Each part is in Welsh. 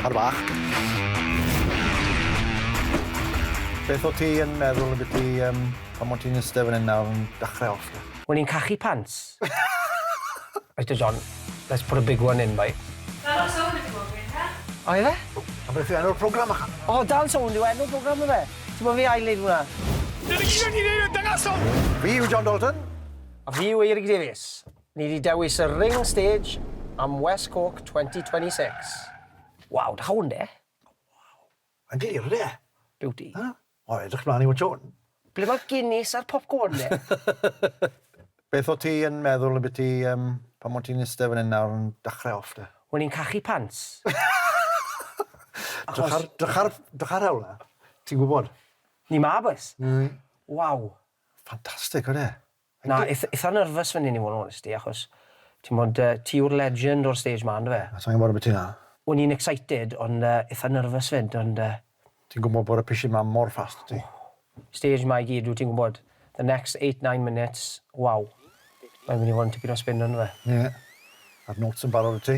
Ar fach. Beth o ti yn meddwl ambiti yym pan o ti'n iste fan 'yn nawr yn dachre off de? Wel ni'n cachu pants. Reit te John, let's put a big one in boi. Dal am sownd yw o gwed ta? O ife? O! A beth yw enw'r program ychan? O Dal Sownd yw enw'r program yfe? Ti'n gwbo fi ail neud hwnna. Dyna gyd o'n i'n neud o dangosol! Fi yw John Dalton. A fi yw Eirig Davies. Ni 'di dewis y Ring Stage am West Cork 2026. Waw, da hwn de! Waw, mae'n glir ynde? Beauty. O, edrych mlaen i watsio hwn. Ble mae'r Guinness a'r popcorn de? Beth o't ti yn meddwl ambiti yym pan o' ti'n iste fan 'yn nawr yn dachre off de? O'n i'n cachu pants. Drych ar drych ar drych ar hewl 'na. Ti'n gwbod. Ni 'ma bois. Waw. Ffantastic odi e? Na, eith- eitha nervous fan hyn i fod yn onest i, achos, t'mod, yy, ti yw'r legend o'r stage 'ma, yndyfe? Na, sai'n gwbod ambyti 'na. O'n i'n excited, ond yy, eitha nervous 'fyd, ond yy. Ti'n gwbod bod y pishyn 'ma mor fast, ti. Stage 'ma i gyd, dwyt ti'n gwbod, the next eight, nine minutes, waw. Mae'n mynd i fod yn tipyn o spin, yndyfe? Ie. A'r notes yn barod 'da ti.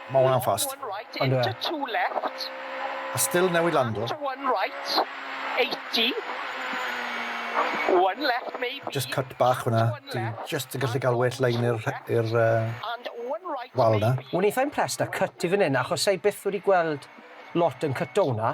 Mae hwnna'n fast. On'd yw e? A still newydd lando. Jyst cut bach fan'na. Dwi jyst yn gallu cael well line i'r rhe- i'r yy wal 'na. O'n eitha impressed â cut ti fan 'yn achos sai byth wedi gweld lot yn cyto hwnna.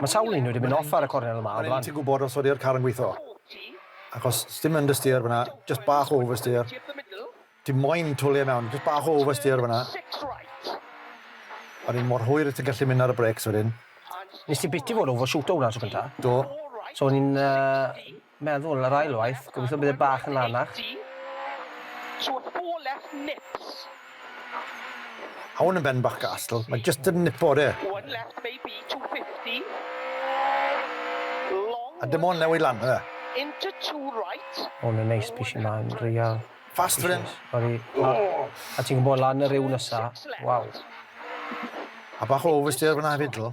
Mae sawl un wedi mynd off ar y cornel yma o flan. O'n i'm yn gwybod os odi'r car yn gweithio. Achos sdim understeer fan'na, jyst bach o oversteer. Ti moyn twli e mewn, jyst bach o oversteer fan'na. O'n i mor hwyr ti'n gallu mynd ar y brakes wedyn. Nes ti biti fod overshooto hwnna tro cynta? Do. So o'n i'n yy Meddwl, yr ail waith, gobeithio bydd e bach yn lanach. Hwn yn ben bach gastl, mae jyst yn nipo de. A dim ond newid lan yw e. Hwn yn neis, pishyn yma yn real. Fast fan hyn. Sori. A ti'n gwybod lan y rhew nesa, waw. A bach o oversteer fan'na hefyd ddo.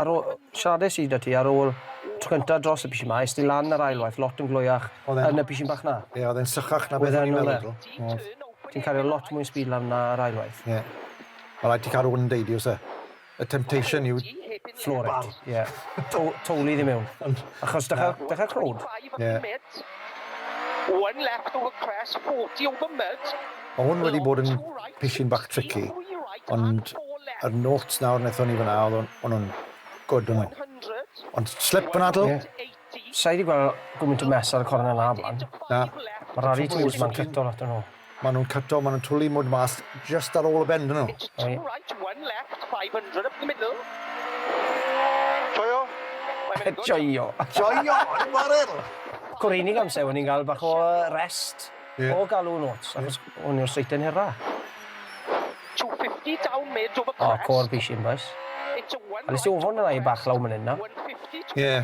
Ar ôl... siaradais i 'da ti ar ôl y tro cynta dros y pishyn 'ma, es ti lan yr ail waith lot yn glwyach yn y pishyn bach 'na. Ie, oedd e'n sychach na beth o'n i'n meddwl. Oedd. Ti'n cario lot mwy speed lan 'na yr ail waith. Ie. Ma' raid ti cael rhywun yn deud i oes e? Y temptation yw... Floor it. Bar. Ie. Tow- towlu ddi mewn. Ond... Achos dechra dechra crowd. Ie. One left over crest, forty over mud. Mae hwn wedi bod yn pishyn bach tricky, ond yr notes nawr wnaethon ni fyna, oedd hwnnw'n good o'n nhw. Ond slip yn adl? Ie. Sa i wedi gweld gwmynt o mess ar y cornel na blaen. Na. Mae rhari twls ma'n cyto lot o'n nhw. Maen nhw'n cyto, maen nhw'n twlu mwd mas just ar ôl y bend nhw. Joio? Joio! Joio! Yn y chwarel! Cwreinig amser, o'n i'n cael bach o rest. Ie. O galw yn ots achos hwn yw'r seiten hera. 250 down mid over crest. Oh cor bish in bois. It's a one. Nes i ofon y ddau bach law man yn nawr. 150 to Ie.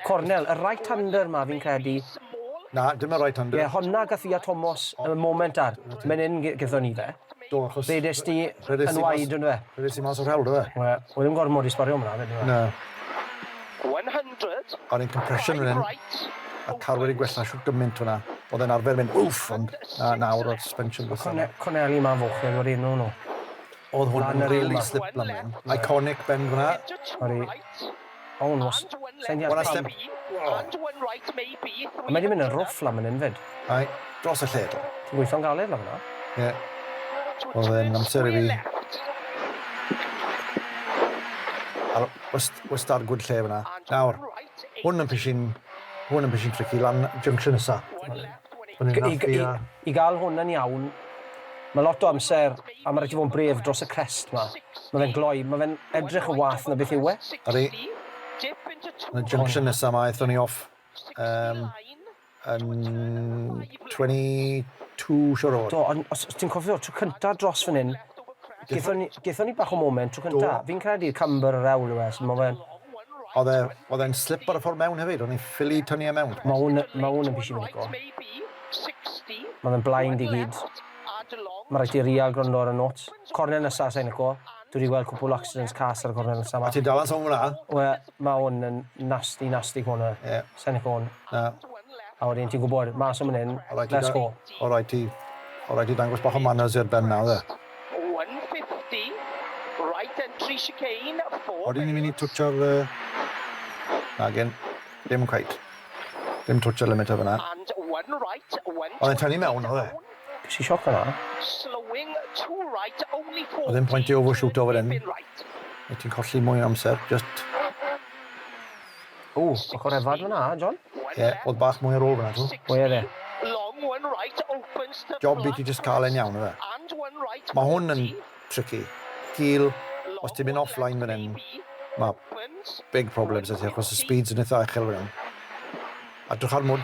Cornel, y right hander ma fi'n credu. Na, dim y right hander. Ie, honna gath Lia Tomos y moment ar. Menyn gethon ni fe. Do achos... Fe des di yn wide on'd do fe? Fe ddes i mas o'r hewl do fe? Wel, oedd ddim gormod i sbario mlan yndyfe? Na. 100. O'n i'n compression fan 'yn. A'r car wedi gwella shwt gymaint fynna. O'dd e'n arfer mynd wff ond na nawr o'dd suspension gwella. Corne- corneli 'ma'n fwch nag o'r enw nw. O'dd hwn yn rili sliplan fan 'yn. Iconic bend fynna. Odi. Oh, no. Sa'n deall pam. Mae wedi mynd yn rough lan fan hyn fyd. Ai, dros y lle. Ti'n gweithio'n galed lan fanna. Ie. Oedd e'n amser i fi. Ar, wrth ar gwyd lle fyna. Nawr, hwn yn pishin, hwn yn pishin tricky lan junction nesa. Hwn yn naffi a... I gael hwn yn iawn, mae lot o amser, a mae rhaid ti fod yn bref dros y crest 'ma. Mae fe'n gloi, mae fe'n edrych yn wath na beth yw e. Ydy. Yn y junction nesaf 'ma aethon ni off yn 22 Shore Road. Do, ond os ti'n cofio, tro cyntaf dros fan hyn, gaethon ni bach o moment tro cyntaf. Fi'n credu camber y rewl yw e, so mae fe'n... Oedd e'n slip ar y ffordd mewn hefyd, o'n i'n ffili tynnu e mewn. Mae hwn yn pishyn o lico. Mae fe'n blind i gyd. Mae rhaid ti rial gwrando ar y notes. Corner nesa sai'n lico. Dwi 'di gweld cwpwl accidents cas ar y corner nesa 'ma. Ti dal yn sownd fel 'na. Wel, mae hwn yn nasty, nasty corner. Ie. Sai'n lico hwn. Na. A wedyn ti'n gwybod, mas o man hyn, let's go. O rhaid ti, o rhaid ti dangos bach o manners i'r Ben 'na, yfe? Odyn ni'n mynd i twtsio'r yy... Nagyn, dim cweit. Dim twtsio'r limiter fyna. Oedd e'n tynnu mewn oedd e? Ges i sioc fanna. Oedd ddim pwynt i overshooto fan hyn. Wyt ti'n colli mwy o amser, just... Ww, bach o refad fanna, John? Ie, oedd bach mwy ar ôl fanna, tw. Ie, oedd e. Job i ti just cael e'n iawn, ife? Mae hwn yn... tricky. Gul, os ti'n mynd offline fan hyn, mae big problems 'da ti achos y speeds yn eitha uchel fan hyn. A drych ar mwd.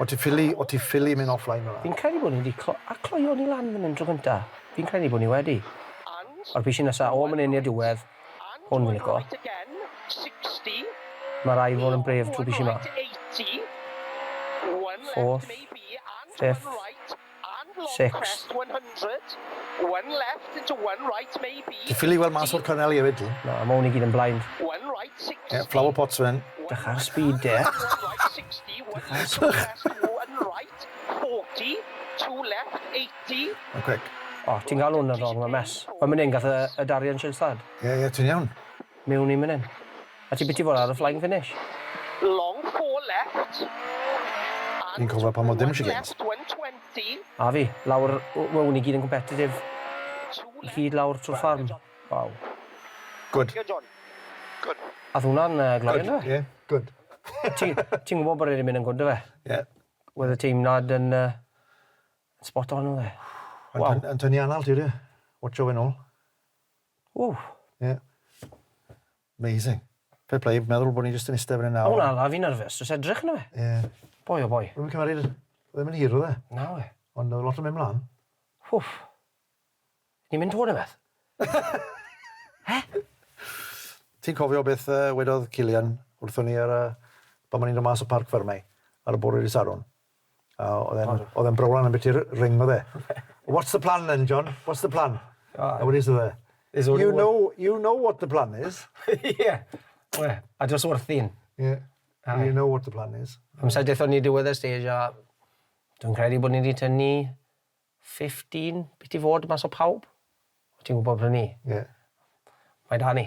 O ti ffili, o ti ffili mynd offline fan 'na. Fi'n credu bod ni wedi clo- a cloio ni lan fan hyn tro gynta. Fi'n credu bod ni wedi. Ma'r pishyn nesa o man hyn i'r diwedd. Hwn fi'n lico. Ma rai fod yn brave trwy pishi ma. Fourth. Fifth. Six. Ti'n ffili weld mas o'r corneli efyd dwyt? Na, ma' hwn i gyd yn blind. Ie, flower pots fan 'yn. Drych ar y speed de. Ma'n quick. O, ti'n galw hwnna'n rong, ma'n mess. Fel myn 'yn gath y y Darien Shins lad. Ie, ie, ti'n iawn. Mewn i mynydd. A ti byth 'di bod ar y Flying Finish? Long four left Fi'n cofio pan oedd dim shigins. A fi, lawr, w- wn i gyd yn competitive i gyd lawr trwy'r ffarm. Waw. Good. Ath hwnna'n uh, gloi Good, on'd ie? good. Ti, ti'n gwybod bod e wedi mynd yn gwd do fe? Ie. Wedd y teimlad yn uh, spot on oedd e. Yn Waw. tyn- yn tynnu anal ti de. Watcho fe nôl. Ww. Ie. Amazing. Fair play, meddwl bod ni jyst yn iste fan 'yn nawr. O na, na fi'n nerfus, jyst edrych yno fe. Ie. Boi o boi. Rwy'n cymaru'r... Oedd e'n hir oedd e? Na we. Ond oedd lot yn mynd mlaen. Hwff. Ni'n mynd tŵr beth? He? Ti'n cofio beth uh, wedodd Cillian wrthon ni ar y... Pan ma'n i'n dod mas o parc ffermau ar y bore i sarwn? A oedd e'n, oedd e'n browlan am beth i'r ring, oedd e. What's the plan then, John? What's the plan? Oh, a wedi sydd e. You know, you know what the plan is. Ie. yeah. Well, a dros wrthi'n. Ie. Yeah. You know what the plan is. Amser dethon ni diwedd y stage a dwi'n credu bod ni wedi tynnu 15 bydd ti fod mas o pawb. O ti'n gwybod prynu? Ie. Mae da ni.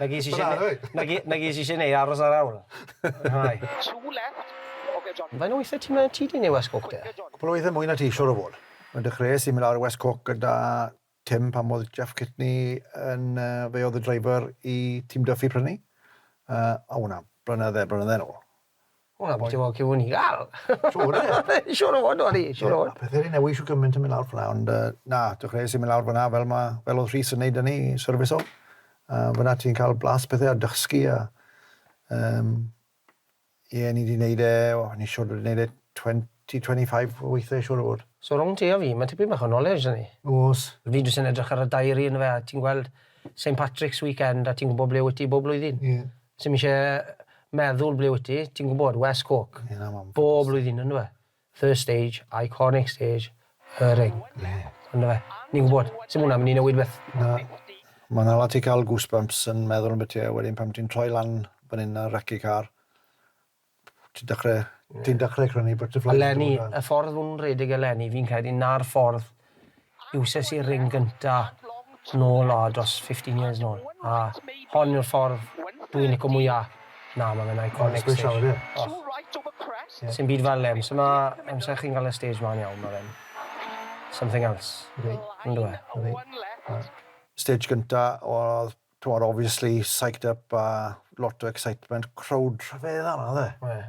Na ges i isie ne- Bravo. na ge- na ges i isie neu aros ar awl. Rhai. Two left. Ok John. Faint o weithiau ti'n mynd â ti di neu West Coke de? Cwpl o weithiau mwy na ti siwr o fod. Fe dechreuais i mynd lawr i West Coke gyda Tim, Pam oedd Jeff Kitney yn... Fe oedd y driver i Team Duffy pryd hynny? O, o na, blynydde, blynydde nôl. O na, bwyty fawr cŵn i gael! Siŵr o fod! Siŵr o fod, o'n i, siŵr o fod. Ie, a pethau wedi newid shwt gymaint yn mynd lawr fan'na, ond na, dechreuais i mynd lawr fan'na fel ma', fel oedd Rhys yn neud hynny, syrfisio. Fan'na ti'n cael blas pethau a dysgu a yym Ie, ni wedi neud e, o, ni siwr wedi neud e twenty, twenty five o weithiau siwr o fod. So rhwng ti a fi, ma' tipyn bach o knowledge 'da ni. O's. Fi jyst yn edrych ar y diary yndyfe, a ti'n gweld Saint Patrick's weekend a ti'n gwbod ble wyt ti bob blwyddyn. Ie. Sim isie meddwl ble wyt ti, ti'n gwbod, West Cork. Ie, na, ma'n ffodus. Bob blwyddyn, yndyw e? First stage, iconic stage, y ring. Ie. On'd yfe? Ni'n gwbod, sdim hwnna'n mynd i newid beth. Na. Ma' 'na lot i ca'l goosebumps yn meddwl ambyti a wedyn pan ti'n troi lan fan 'yn ar Raci Car, ti'n dechre, ti'n dechre crynu butterflies... Eleni, y ffordd o'n nhw'n rhedeg eleni, fi'n credu 'na'r ffordd Iwses i'r ring gynta nôl o dros fifteen years nôl a hon yw'r ffordd dw i'n lico mwya. Na ma fe'n iconic stage. Mae'n sgwishio ydi? Sim byd fel e, amser ma amser chi'n ga'l y stage mlan iawn ma fe'n something else. Ydi. On'd yw e? Ydi. Ydi. Stage gynta odd t'mod obviously psyched up a lot o excitement crowd rhyfeddol odd e. Wedd.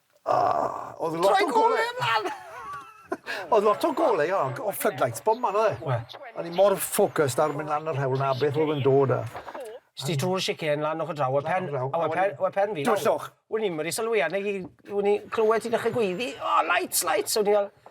Oedd lot o golau... Troi golau ymlaen! Oedd lot o golau, o, o floodlights, bob man oedd e. Wel. O'n i mor focused ar mynd lan yr hewl 'na a beth oedd yn dod a... Es ti trwy'r chicane lan ochr draw a pen... Lan ochr draw. A we- pen we- pen fi... Twllwch. Wn i'm wedi sylwi arna i wn i clywed ti dechre gweiddi, 'O lights lights' a o'n i fel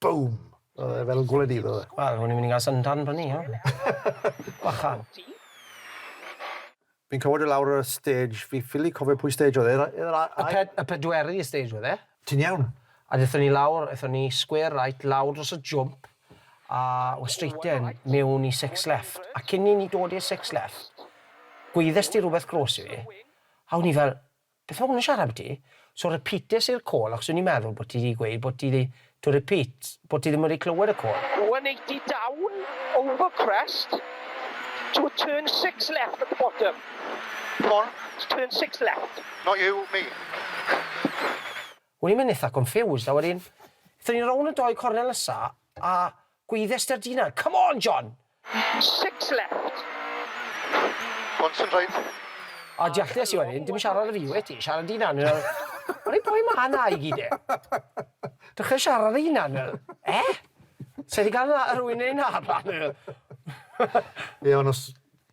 Bŵm! O'dd e fel gwlyb iddo fe. Wel, o'n i'n mynd i ga'l syndran fyny nawr. Bychan. Fi'n cofio do' lawr ar y stage, fi ffili cofio pwy stage oedd e, yr yy yr a- ai-... Y ped- y pedwerydd stage oedd e. Ti'n iawn? A dethon ni lawr, ethon ni square right lawr dros y jwmp a o straighten mewn i six left, a cyn i ni dod i'r six left, gweuddes di rwbeth grôs i fi, a o'n i fel, Beth ma hwn yn siarad ambyti? So repeates i'r call achos o'n i'n meddwl bod ti 'di gweud bod ti 'di, to repeat, bod ti ddim wedi clywed y call. 180 down over crest to turn six left at the bottom. Ffôn? Turn six left. Not you, me. O'n i'n mynd itha confused a wedyn, aethon ni rownd y doi cornel nesa a gweiddes 'da'r dyn 'na, 'Come on, John! Six left. Pont yn rhaid. O diolch i wedyn, dim siarad â fi wyt ti, siarad dy hunan fel, Wel i pwy ma na i gyd de? Dechra siarad dy hunan fel, eh? Sa i di gael na rhywun neu na rhan fel. Ie ond os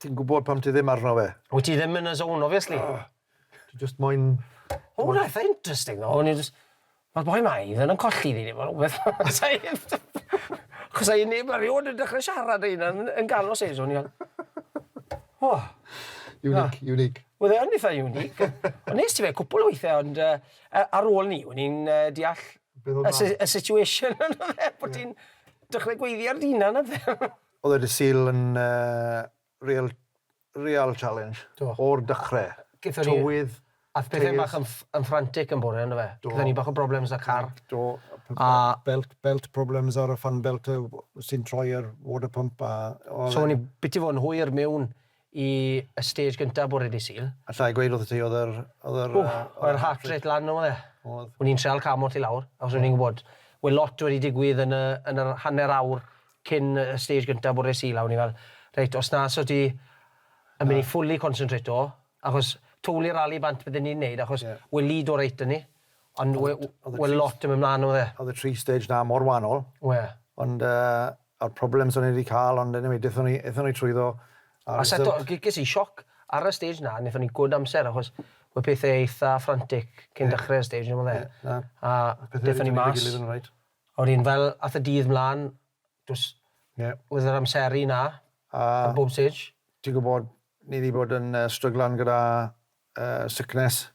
ti'n gwybod pam ti ddim arno fe. Wyt ti ddim yn y zone obviously. Ti jyst moyn... O reit, interesting though, o'n i jyst... Mae'r boi 'ma i fod yn colli fi neu rhywbeth. Achos ai neb erioed yn dechrau siarad â hynna yn ganol sesiwn i fel O! Unique, unique. Oedd e yn eitha unique. Ond nes ti fe cwpl o weithiau ond yy ar ôl 'ny o'n i'n yy deall y situation on'd odd e? Bo' ti'n dechrau gweiddi ar dy hunan a pethe. Oedd e dy Sul yn yy real real challenge o'r dechrau. Gaethon ni tywydd, ath pethau bach yn frantic yn bore yndyfe? Do. Gaethon ni bach o problems 'da car. Do. A. Belt, belt problems ar y fan belt sy'n troi ar water pump a oedd e'n... So o'n ni biti fod yn hwyr mewn i y stage gyntaf bore dydd Sul. Alla i gweud wrtho ti oedd yr, oedd yr... Ww, oedd yr heart rate lan yn doedd e? Oedd. O'n i'n trial ca'l mot i lawr achos o'n i'n gwbod we' lot wedi digwydd yn y, yn yr hanner awr cyn y stage gynta bore Sul a o'n i fel reit os na so ti yn mynd i fully concentrato achos twli'r rali bant bydden ni'n neud achos we' Lido reit da ni ond we' we' lot yn mynd mlan odd e. Odd y tri stage na mor wanol. We'. Ond yy a'r problems o'n i di ca'l ond eniwe dethon ni ethon ni trwyddo a... A seto g- ges i sioc ar y stage na nethon ni good amser achos we' pethe eitha frantic cyn dechre'r stage on' o'dd e? Ie na. A dethon ni mas. O'n i'n fel ath y dydd mlan dos oedd yr amseru 'na ar bob stage. Ti'n gwybod, ni 'di bod yn stryglan gyda sickness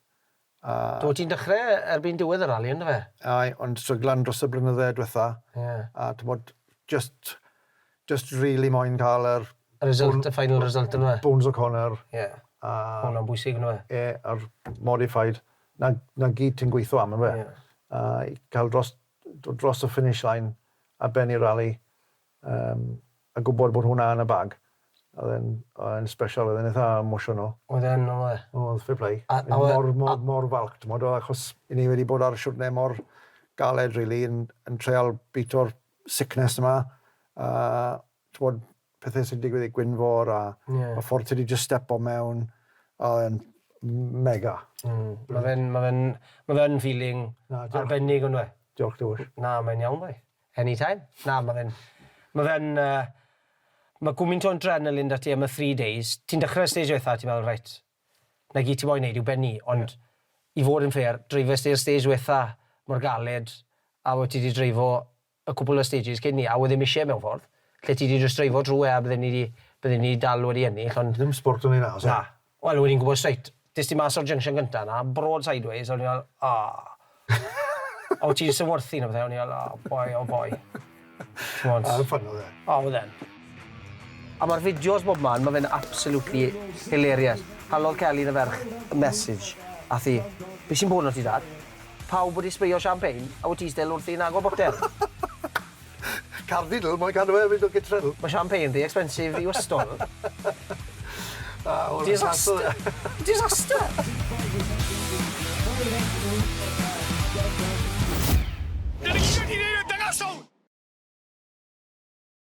a... Do, ti'n dechrau erbyn diwedd y rali yn do fe? Aye, ond stryglan dros y blynydde dwetha a t'mod jyst jyst rili moyn cael yr... Y result, y final result yn do fe? Bones O'Connor a... Ie, ma' hwnna'n bwysig yn do fe? Ie, a'r modified. 'na 'na gyd ti'n gweithio am yndyfe? Ie. A i ca'l dros dod dros y finish line ar ben y rali yym a gwbod bod hwnna yn y bag o'dd e'n o'dd e'n sbesial o'dd e'n itha emotional. Oedd e'n oedd e? O'dd fair play. A a oedd... Mor mor mor falch t'mod o achos 'yn ni wedi bod ar y siwrne mor galed rili yn yn treial bîto'r sickness 'ma a t'mod pethe sy'n digwydd i Gwynfor a... Ie. ...y ffordd ti 'di jyst stepo mewn a oedd e'n mega. Mm. Ma' fe'n ma' fe'n ma' fe yn feeling Na, diolch. ...arbennig on'd yw e? Diolch Dywyll. Na, mae'n iawn boi. Any time. Na, ma' fe'n ma' fe'n yy ma' gwmint o adrenaline 'da ti am y three days. Ti'n dechre y stage ddwetha a ti'n meddwl reit, 'na gyd ti moyn neud yw bennu ond i fod yn fair, dreifes ti y stage ddwetha mor galed a wyt ti 'di dreifo y cwpwl o stages cyn 'ny a oedd ddim isie mewn ffordd, lle ti 'di jyst dreifo drw e a bydden ni 'di, bydden ni 'di dal wedi ennill ond... Ddim sbwrt yn ei nas e. Na. Wel o'n i'n gwbod straight, des di mas o'r junction gynta 'na, broad sideways, a o'n i fel, aww. A o' ti'n syfwrthin a pethe, a o'n i fel, oh boy, oh boy. T'mod? A, ffyni oedd e. O, oedd e'n. A ma'r fideos bobman, ma' fe'n absolutely hilarious. Halodd Kelly yn y ferch y message ath 'i, Be' sy'n bod 'no ti dad? Pawb wedi sbreio champagne a wyt ti still wrthi yn agor botel? Cardinal, moyn cadw e fynd o gytre nhw. Ma' champagne rhy expensive i ystol. Disaster! Disaster!